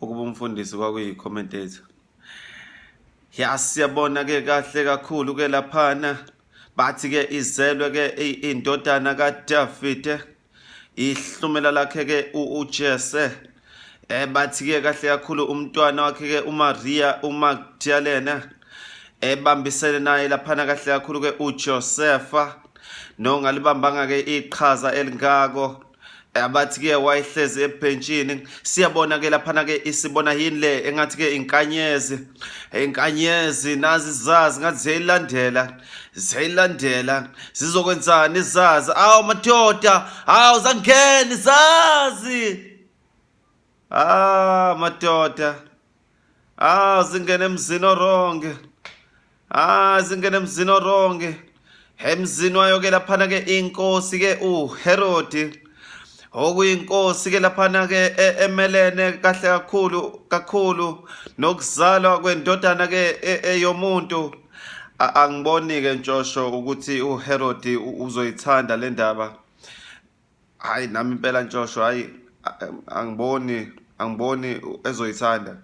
ukuba umfundisi kwakuyi-commentator ya siyabona-ke kahle kakhulu-ke laphana bathi-ke izelwe-ke indodana kadavide ihlumela lakhe-ke ujese eh bathi-ke kahle kakhulu umntwana wakhe-ke umariya umagdalena ebambisene naye laphana kahle kakhulu-ke ujosefa nongalibambanga-ke iqhaza elingako abathi ke wayehlezi ebhentshini siyabona ke laphana ke isibona yini le engathi ke inkanyezi inkanyezi nazi zazi ngathi ziyayilandela ziyayilandela zizokwenzani izazi awu madoda awu zangeni zazi ah madoda ah zingene emzini oronge ah zingene emzini oronge emzini wayo-ke laphana-ke inkosi-ke uherodi okuyinkosi-ke laphana-ke e, emelene kahle kakhulu kakhulu nokuzalwa kwendodana-ke e, eyomuntu e, angiboni-ke ntshosho ukuthi uherodi uzoyithanda le ndaba hayi nami impela ntshosho hayi angiboni angiboni ezoyithanda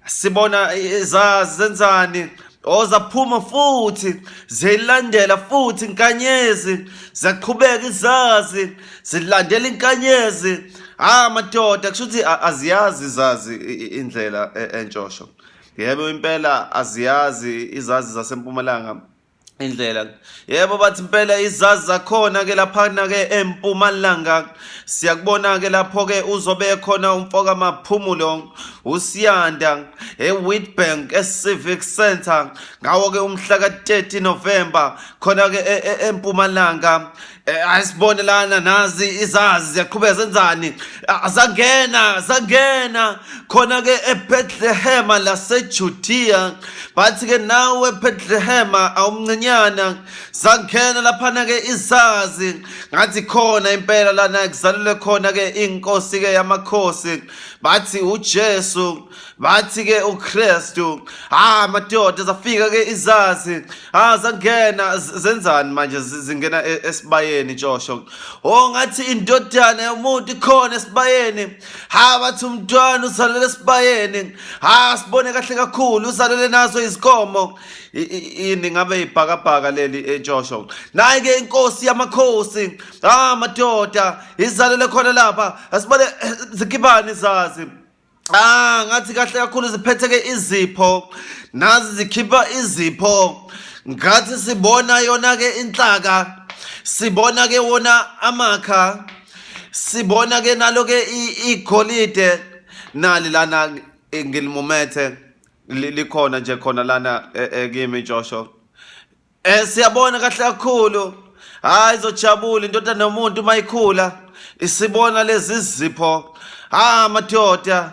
sibona izazi zenzani ozaphuma futhi zilandela futhi inkanyezi ziyaqhubeka izazi zilandela inkanyezi ah madoda kusho ukuthi aziyazi izazi indlela e, entshosho yebo impela aziyazi izazi zasempumalanga indlela yebo bathi impela izazi zakhona ke laphana ke empumalanga siyakubona ke lapho ke uzobe khona umfoka maphumulo usiyanda ewitbank ecivic center ngawo ke umhla ka-30 november khona ke e, e, empumalanga Eh, ayisibone lana nazi izazi ziyaqhubeka zenzani azangena zangena khona ke eBethlehema laseJudiya bathi ke nawe eBethlehema awumncinyana zangena laphana ke izazi ngathi khona impela lana kuzalelwe khona ke inkosi ke yamakhosi bathi uJesu bathi ke uKristu ha madoda zafika ke izazi ha zangena zenzani manje zingena e, esibayeni tshosho oh ngathi indodana yomuntu ikhona esibayeni ha bathi umntwana uzalele esibayeni ha sibone kahle kakhulu uzalele nazo izikomo yini ngabe ibhakabhaka leli etshosho naye ke inkosi yamakhosi ha madoda izalele khona lapha asibone eh, zikibani izazi Ah ngathi kahle kakhulu ziphetheke izipho nazi zikhipha izipho ngathi sibona yona ke inhlaka sibona ke wona amakha sibona ke nalo ke igolide nali lana eh, ngilimumethe likhona nje khona lana eh, eh, kimi Joshua Eh siyabona kahle kakhulu. Hayi izojabula indoda nomuntu mayikhula isibona lezi zipho. Ha madoda.